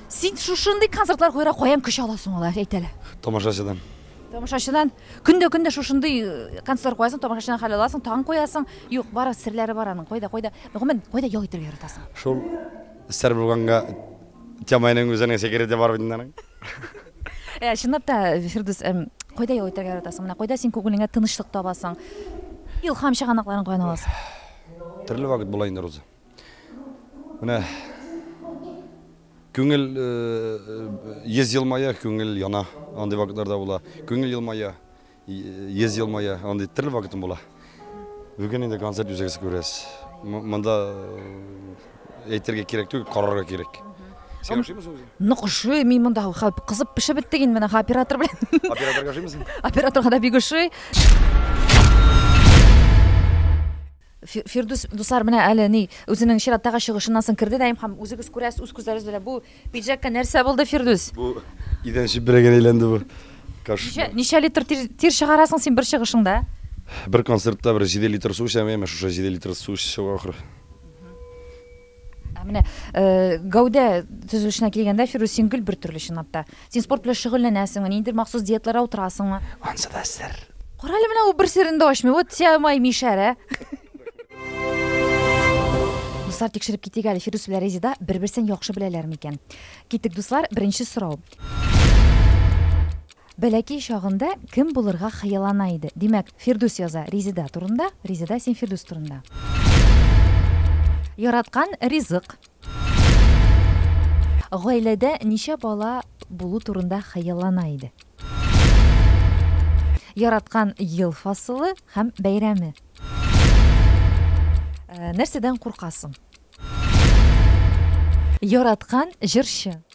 Speaker 1: Син шушындый концертлар куярга каян көч аласың алар, әйт әле? Тамашачыдан.
Speaker 2: Тамашачыдан
Speaker 1: көндә-көндә шушындый э, концерт куясың, тамашачыдан хәл аласың, тагын куясың. Юк, бары серләре бар аның. Кайда, кайда? Гомумән, кайда ял итәргә яратасың? Шул
Speaker 2: сәр булганга Тямайның үзенең секреты бар бит аның. Ә, э,
Speaker 1: чынлап та, Фирдус, эм, кайда ял итәргә яратасың? Менә кайда син күңелеңә тынычлык табасың? Илһам чыганакларын каян аласың? Төрле
Speaker 2: вакыт була инде, Роза. Менә күңел йөз елмая, күңел яна, андый вакытлар да була. Күңел елмая, йөз елмая, андый төрле вакытым була. Бүген инде концерт үзегез күрәсез. Монда әйтергә кирәк түгел, карарга кирәк. Син ашыймысың үзең? Нык ашый, мин монда
Speaker 1: кызып пешеп беттек инде менә оператор белән.
Speaker 2: Операторга ашыймысың? Операторга
Speaker 1: да бик ашый. Фирдүс, дуслар, менә әле ни, үзенең чираттагы чыгышыннан соң керде дә һәм үзегез күрәсез, үз күзләрегез белән бу пиджакка нәрсә булды, Фирдүс? Бу идән
Speaker 2: чүпрәгенә әйләнде бу. Ничә, ничә
Speaker 1: литр тир, тир чыгарасың син бер чыгышыңда? Бер концертта
Speaker 2: бер 7 литр су эчәм, әмма шушы 7 литр су эчеп чыга ахры. Ә
Speaker 1: менә гәүдә төзелешенә килгәндә, Фирүз, син гел бер төрле чынлап та. Син спорт белән шөгыльләнәсеңме, ниндидер махсус диеталарга утырасыңмы? Ансы да сер.
Speaker 2: Кара әле менә ул бер
Speaker 1: серен дә ачмый. Вот тя май мишәр, ә? Дуслар, тикшереп китик әле, Фирүз белән Резида бер-берсен яхшы беләләр микән? Китик, дуслар, беренче сорау. Бәләкәй чагында кем булырга хыяллана иде? Димәк, Фирдүс яза Резеда турында, Резеда син Фирдүс турында. Яраткан ризык. Гаиләдә ничә бала булу турында хыяллана иде? Яраткан ел фасылы һәм бәйрәме. Нәрсәдән куркасың? Яраткан җырчы.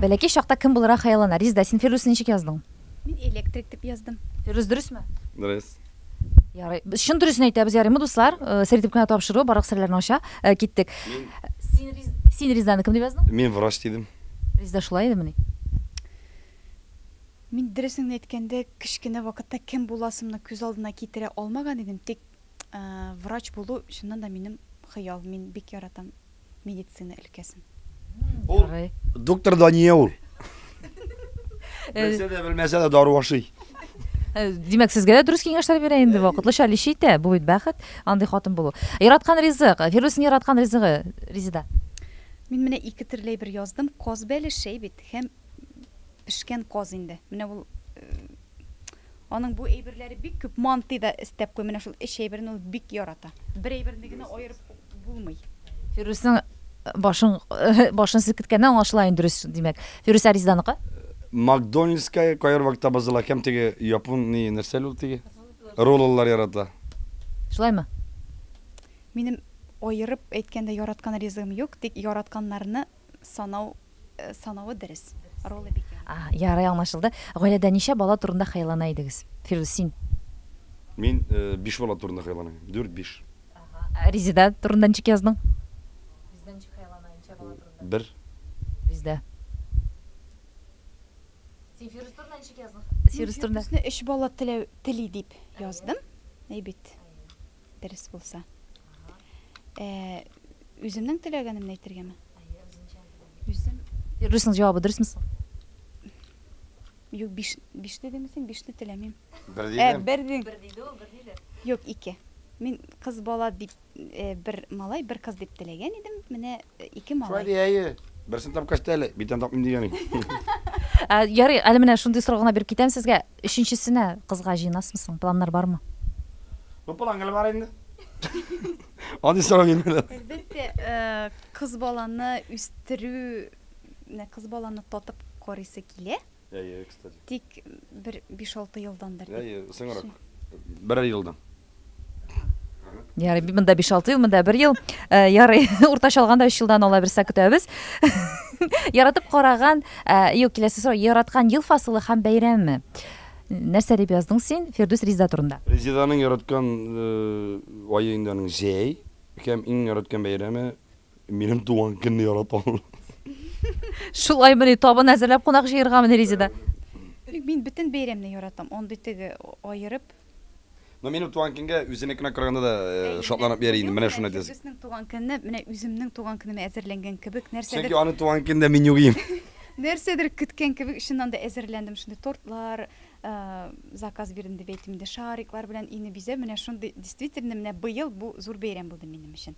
Speaker 1: Бәләкәй чакта кем булырга хыяллана? Ризда, син Фирдүсне ничек яздың? Мин электрик
Speaker 9: дип яздым. Фирдүс дөресме?
Speaker 1: Дөрес.
Speaker 2: Ярый.
Speaker 1: Без чын дөресен әйтәбез, ярыймы, дуслар? Э, Сер итеп кенә тапшыру, барлык серләрне ача. Э, Киттек. Син Риз- Син Ризданы кем дип яздың? Мин врач дидем.
Speaker 2: Ризда шулай идемени?
Speaker 9: Мин дөресен әйткәндә, кечкенә вакытта кем буласымны күз алдына китерә алмаган идем, тик Врач булу чыннан да минем хыял. Мин бик яратам медицина өлкәсен. Ул
Speaker 2: доктор Дания ул. Белсә дә, белмәсә дә дару ашый. Э,
Speaker 1: димәк сезгә дә дөрес киңәшләр бирә инде вакытлыча лечи итә бу бит бәхет андый хатын булу яраткан ризык фирдүснең яраткан ризыгы резеда мин менә
Speaker 9: ике төрле бер яздым коз бәлешәй бит һәм Пешкән каз инде. Менә ул Аның бу әйберләре бик күп. Манты да эстәп куй. Менә шул эч әйберен ул бик ярата. Бер әйберне генә аерып булмый. Фирүснең
Speaker 1: башын башын селкеткәннән аңлашыла инде дөрес димәк. Фирүс Аризданыкы? Макдональдская
Speaker 2: кайбер вакытта бозыла һәм теге япон ни нәрсә ул теге? Ролллар ярата. Шулаймы?
Speaker 9: Минем аерып әйткәндә яраткан ризыгым юк, тик яратканнарны санау санавы дөрес. Ролы бик яхшы. Ага, ярый аңлашылды.
Speaker 1: Гаиләдә ничә бала турында хыяллана идегез? Фирдүс, син. Мин
Speaker 2: биш бала турында хыяллана идем. Дүрт, биш. Ага. Резеда
Speaker 1: турында ничек яздың? Резеда
Speaker 6: ничек хыяллана, ничә бала турында? Бер.
Speaker 2: Резеда. Син
Speaker 6: Фирдүс турында ничек яздың? Фирдүс турында. Фирдүсне өч
Speaker 1: бала теләү,
Speaker 9: тели дип яздым. Әйбит. дөрес булса. Ә, үземнең теләгәнемне әйтергәме? Үзем Юрисның
Speaker 1: җавабы дөресме соң?
Speaker 9: Юк, биш, биш дидеме син? Бишне теләмим. Бер Ә, дидем. бер дин. Бер
Speaker 2: диде ул, бер
Speaker 9: диде. Юк, ике. Мин кыз бала дип, э, бер малай, бер кыз дип теләгән идем. Менә э, ике Шулай малай. ди, әйе. Берсен
Speaker 2: тапкач та әле, битен тапмыйм дигән идем. Ә,
Speaker 1: ярый, әле менә шундый сорау гына биреп китәм сезгә. Өченчесенә кызга җыенасмы соң? Планнар бармы? Ну план
Speaker 2: гел бар инде. Андый сорау бирмәләр. Әлбәттә,
Speaker 9: кыз баланы үстерү, менә кыз баланы татып карыйсы килә. Әйе, кстати. Тик бер биш-алты елдан бер. Әйе, соңрак.
Speaker 2: Берәр елдан. Ярый,
Speaker 1: монда 5-6 ел, монда 1 ел. Э, ярый, уртача алганда 3 елдан ала берсә көтәбез. Яратып караган, э, юк, киләсе сорау, яраткан ел фасылы һәм бәйрәме. Нәрсә дип яздың син Фирдүс Ризда турында? Ризданың яраткан
Speaker 2: э, ае инде аның җәй һәм иң яраткан бәйрәме минем туган көнне яратам.
Speaker 1: Шулай мени табын әзерләп кунак җыергамыни Ризда? Мин
Speaker 9: бөтен бәйрәмне яратам. Андый теге аерып Ну, минем
Speaker 2: туган көнгә үзенекенә караганда да э, шатланып йәри инде, менә шуны әйтәсең. Безнең туган көнне, менә
Speaker 9: үземнең туган көнемә әзерләнгән кебек, нәрсәдер... Чөнки аның туган көнендә мин
Speaker 2: югыйм. Нәрсәдер
Speaker 9: көткән кебек, чыннан да әзерләндем, шундый тортлар, э, заказ бирдем дип әйтим инде, шариклар белән өйне бизә, менә шундый, действительно, менә быел бу зур бәйрәм булды минем өчен.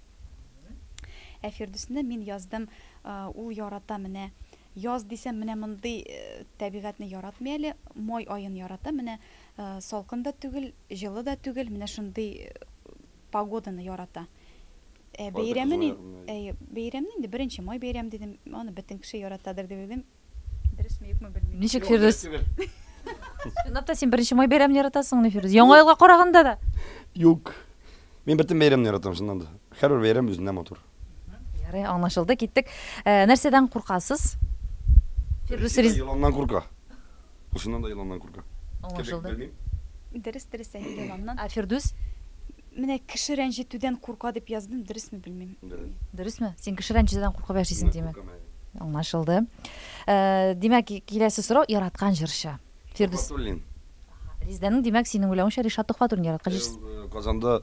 Speaker 9: Ә Фирдүсне мин яздым, э, ул ярата менә, яз дисәм, менә мондый э, табигатьне яратмый әле, май аен ярата, менә Салкын да түгел, җылы да түгел, менә шундый погоданы ярата. Ә бәйрәмен, әйе, бәйрәмне инде беренче май бәйрәме дидем, аны бөтен кеше яратадыр дип уйлыйм. Дөресме, юкмы, белмим. Ничек, Фирдүс?
Speaker 1: Чынлап та син беренче май бәйрәмен яратасыңмыни, Фирдүс? Яңа елга караганда да? Юк.
Speaker 2: Мин бөтен бәйрәмне яратам, чыннан да. Һәрбер бәйрәм үзеннән матур. Ярый,
Speaker 1: аңлашылды, киттек. Ә, нәрсәдән куркасыз? Фирдүс Риза. Еланнан курка.
Speaker 2: Ушыннан да еланнан курка. Аңлашылды.
Speaker 1: Дөрес,
Speaker 9: дөрес әйтте еланнан. Ә Фирдүс?
Speaker 1: Менә
Speaker 9: кеше рәнҗетүдән курка дип яздым, дөресме белмим. Дөрес. Дөресме? Син
Speaker 1: кеше рәнҗетүдән куркып яшисең, димәк. Аңлашылды. Э, димәк, киләсе сорау яраткан җырчы. Фирдүс. Ризданең димәк, синең уйлавыңча Ришат Төхвәтуллин яраткан җырчы. Э, Казанда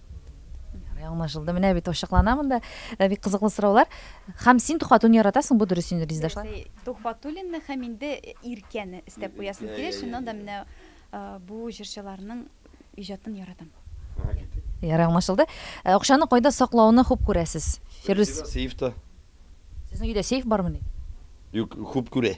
Speaker 2: Ярый,
Speaker 1: аңлашылды. Менә бит ачыклана монда. Э, бик кызыклы сораулар. Хәм син тухватуны яратасың, бу дөрес инде, Лиздашлар. Бәлки Тухватуллинны һәм
Speaker 9: инде Иркәне истәп куясың килә. Шуннан да менә э, бу җырчыларның иҗатын яратам. Ярый,
Speaker 1: аңлашылды. Э, Акчаны кайда саклауны хуп күрәсез? Фирдүс, Сезнең сейфта.
Speaker 2: сезнең
Speaker 1: өйдә сейф бармыни? Юк,
Speaker 2: хуп күрә.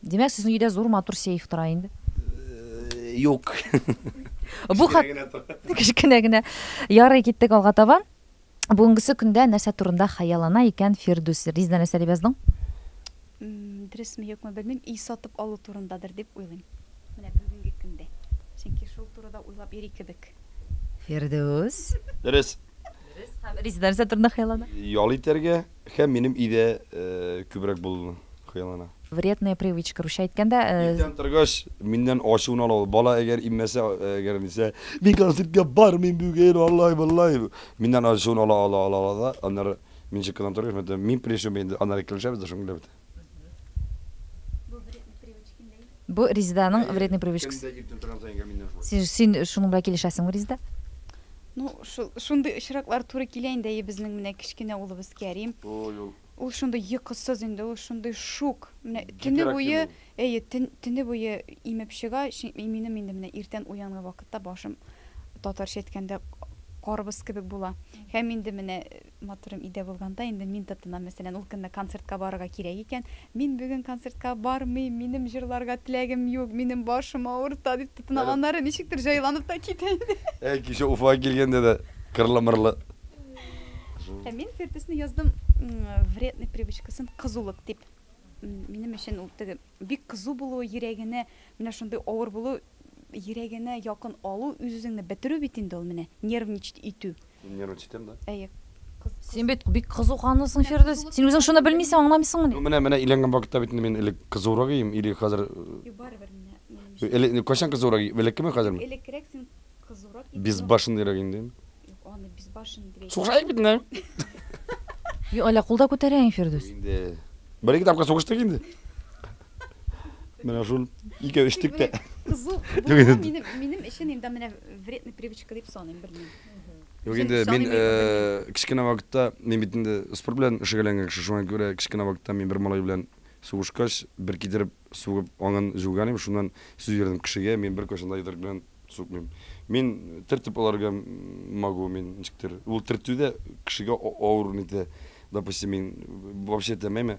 Speaker 1: Димәк, сезнең өйдә зур матур сейф тора инде?
Speaker 2: Юк.
Speaker 1: Бу хат кечкенә генә. Ярый, киттек алга таба. Бүгенгесе көндә нәрсә турында хыяллана икән Фирдүс? Ризна нәрсә дип яздың?
Speaker 9: Дөресме, юкмы белмим, өй сатып алу турындадыр дип уйлыйм. Менә бүгенге көндә. Чөнки шул турыда уйлап йөри кебек. Фирдүс.
Speaker 1: Дөрес.
Speaker 2: Дөрес.
Speaker 1: Ризна нәрсә турында хыяллана? Ял итәргә.
Speaker 2: Һәм минем өйдә күбрәк булуны хыяллана. Вредная привычка,
Speaker 1: русча әйткәндә. Иртән торгач,
Speaker 2: миннән ачуын ала ул. Бала әгәр иммәсә, әгәр дисә, мин концертка бармыйм бүген, алай-болай. Миннән ачуын ала, ала, ала, ала да, аннары мин чыкканнан торгач, мин пришел, мин инде аннары килешәбез дә, шуның белән бетә.
Speaker 1: Бу Резиданың вредный привычкасы. Кемдә иртән торган саен гаминнән шулай. Син, син шуның белән килешәсеңме, Резида? Ну,
Speaker 9: шул, шундый очраклар туры килә инде әйе безнең менә кечкенә улыбыз Кәрим. Ой, ул Ул шундый йокысыз инде, ул шундый шук. Менә төне Гиперактив буе, ул. әйе, төн- төне буе имеп чыга. Чи- и- Минем инде менә иртән уянган вакытта башым, татарча әйткәндә, карбыз кебек була. Һәм инде менә Матурым өйдә булганда инде мин тотынам, мәсәлән, ул көнне концертка барырга кирәк икән, мин бүген концертка бармыйм, минем җырларга теләгем юк, минем башым авырта, дип тотынам, аннары ничектер җайланып та китә инде. Әй, кичә Уфага
Speaker 2: килгәндә дә кырлы-мырлы.
Speaker 9: Ә мин Фирдүсне яздым вредный привычкасын кызулык дип. Минем өчен ул теге бик кызу булу, йөрәгенә менә шундый авыр булу, йөрәгенә якын алу, үз-үзеңне бетерү бит инде ул менә, нервничать итү. Мин нервничать итәм дә.
Speaker 2: Әйе. Син бит
Speaker 1: бик кызу канлысың, Фирдүс. Син үзең шуны белмисең, аңламыйсыңмыни? Ну, менә, менә өйләнгән вакытта
Speaker 2: бит инде мин элек кызурак идем, или хәзер... Юк, барыбер менә, минем өчен. Элек, кайчан кызурак идем, элеккеме, хәзерме? Юк, элеккерәк син
Speaker 9: кызурак идең. Безбашенныйрак идем
Speaker 2: дим. Юк, аны безбашенный
Speaker 9: дип әйтмә. Сугышайык бит инде.
Speaker 1: Юк, әллә кул да күтәрәең, Фирдүс? Инде
Speaker 2: бер-ике тапкыр сугыштык инде. Менә шул икәү эчтек тә. Кызу булу минем, минем
Speaker 9: өчен инде менә вредный привычка дип саныйм, белмим. Юк инде
Speaker 2: мин кечкенә вакытта мин бит инде спорт белән шөгыльләнгән кеше, шуңа күрә кечкенә вакытта мин бер малай белән сугышкач, бер китереп сугып аңын җуган идем, шуннан сүз бирдем кешегә, мин бер кайчан да йодрык белән сукмыйм. Мин төртеп аларга могу, мин ничектер. Ул төртү дә кешегә авыр нитә. Допустим, мин вообще теләмәйме.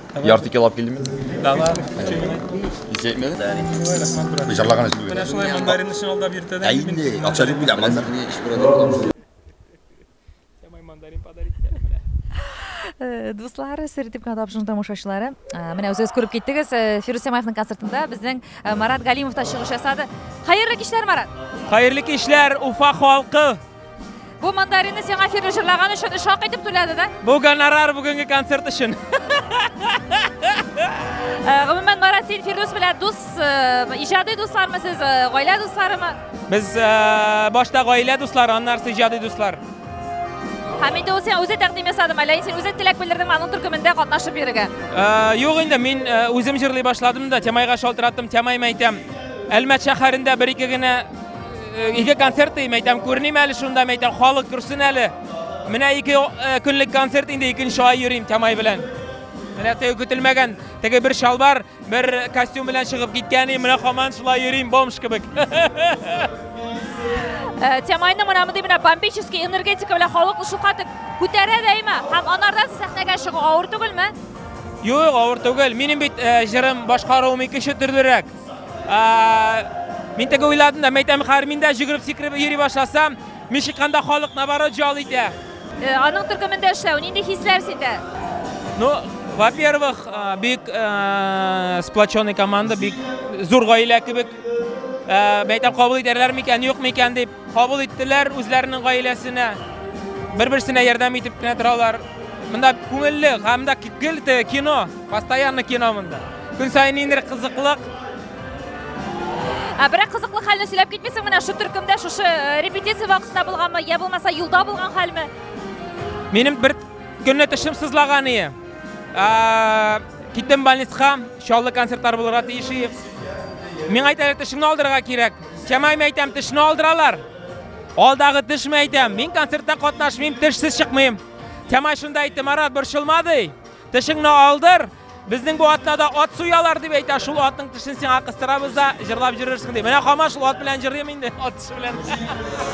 Speaker 13: Ярты кило алып килдеме?
Speaker 12: Да, да.
Speaker 11: Ис
Speaker 12: әйтмәде? Бу җарлаган
Speaker 13: эш түгел. Менә шулай мандарин өчен
Speaker 11: алдап йөртәдә. Ә инде акча юк бит,
Speaker 13: мандарин еш күрәдә.
Speaker 11: Сәмай мандарин подарить итә менә. Э,
Speaker 1: дуслары, сертип кына тапшыру тамашачылары. Э, менә үзегез күреп киттегез, э, Фирус Сәмаевның концертында безнең Марат Галимов та чыгыш ясады. Хәерле кичләр, Марат. Хәерле кичләр,
Speaker 11: Уфа халкы. Бу
Speaker 1: мандарины сиңа фильм җырлаган өчен өч хак итеп түләде дә? Бу гонорар бүгенге
Speaker 11: концерт өчен.
Speaker 1: Э, гомумән, Марат, син Фирдус белән дус, э, иҗади дуслармы сез, э, гаилә дусларымы? Без
Speaker 11: башта гаилә дуслары, аннары иҗади дуслар. Һәм
Speaker 1: инде ул сиңа үзе тәкъдим ясадымы, әллә син үзе теләк белдердеңме аның төркемендә катнашып йөрергә? Юк инде,
Speaker 11: мин үзем җырлый башладым да, Тямайга шалтыраттым, Тямайм әйтәм. Әлмәт шәһәрендә бер-ике генә Э, ике концерт дим әйтәм күреним әле шунда әйтәм халык күрсен әле менә ике э, көнлек концерт инде икенче ай йөрим тәмай белән менә теге көтелмәгән теге бер шалбар бер костюм белән чыгып киткән и менә хаман шулай йөрим бомж кебек
Speaker 1: э, Тямайның менә мондый менә бомбический энергетика белән халыкны шулкадәр күтәрә дәйме һәм анардан сәхнәгә чыгу авыр түгелме? Юк,
Speaker 11: авыр түгел. Минем бит җырым башкаруым икенче төрлерәк. Мин теге уйладым да, мәйтәм Хармин дә җөгереп сикереп йөри башласа, мин чыкканда халык наоборот җал итә. Э, аның төркемендә
Speaker 1: эшләү нинди хисләр сиздә? Ну,
Speaker 11: во-первых, э, бик э, сплоченный команда, бик зур гаилә кебек. Мәйтәм кабул итәрләр микән, юк микән дип. Кабул иттеләр үзләренең гаиләсенә. Бер-берсенә ярдәм итеп кенә торалар. Монда күңелле, һәм дә гел кино, постоянно кино монда. Көн саен ниндидер кызыклык.
Speaker 1: Ә берәк кызыклы хәлне сөйләп китмисең менә шу төркемдә шушы э, репетиция вакытында булганмы, я булмаса юлда булган
Speaker 11: хәлме? Минем бер көнне
Speaker 1: тешем
Speaker 11: сызлаган ие. Киттем больницага, чаллы концертлар булырга тиеш ие. Миңа әйтәләр, тешеңне алдырырга кирәк. Чамайм әйтәм, тешне алдыралар. Алдагы тешме әйтәм, мин концертта катнашмыйм, тешсез чыкмыйм. Чамай шунда әйтте, Марат, борчылма ди. Тешеңне алдыр. Безнең бу атнада ат суялар дип әйтә, шул атның тешен сиңа кыстырабыз да, җырлап җөрерсең ди. Менә Хама шул ат белән җырлыйм инде, ат теше белән.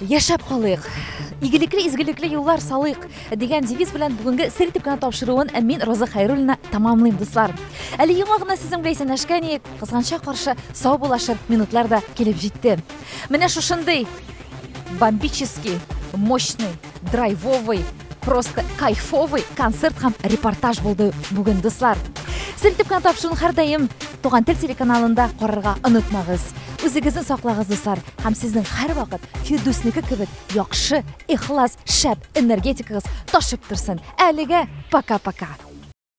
Speaker 1: Яшәп калыйк! Игелекле изгелекле юллар салыйк дигән девиз белән бүгенге сер итеп кенә тапшыруын мин Роза Хайруллина тамамлыйм, дуслар. Әле яңа гына сезнең белән исәнләшкән иек, кызганча каршы сау булашыр минутлар да килеп җитте. Менә шушындый бомбический, мощный, драйвовый Просто кайфовый концерт һәм репортаж булды бүген, дуслар. Селтеп кенә тапшыруны һәрдаим Туган тел телеканалында карарга онытмагыз. Үзегезне саклагыз, дуслар, һәм сезнең һәрвакыт Фирдүснеке кебек яхшы, ихлас, шәп энергетикагыз ташып торсын. Әлегә пока-пока.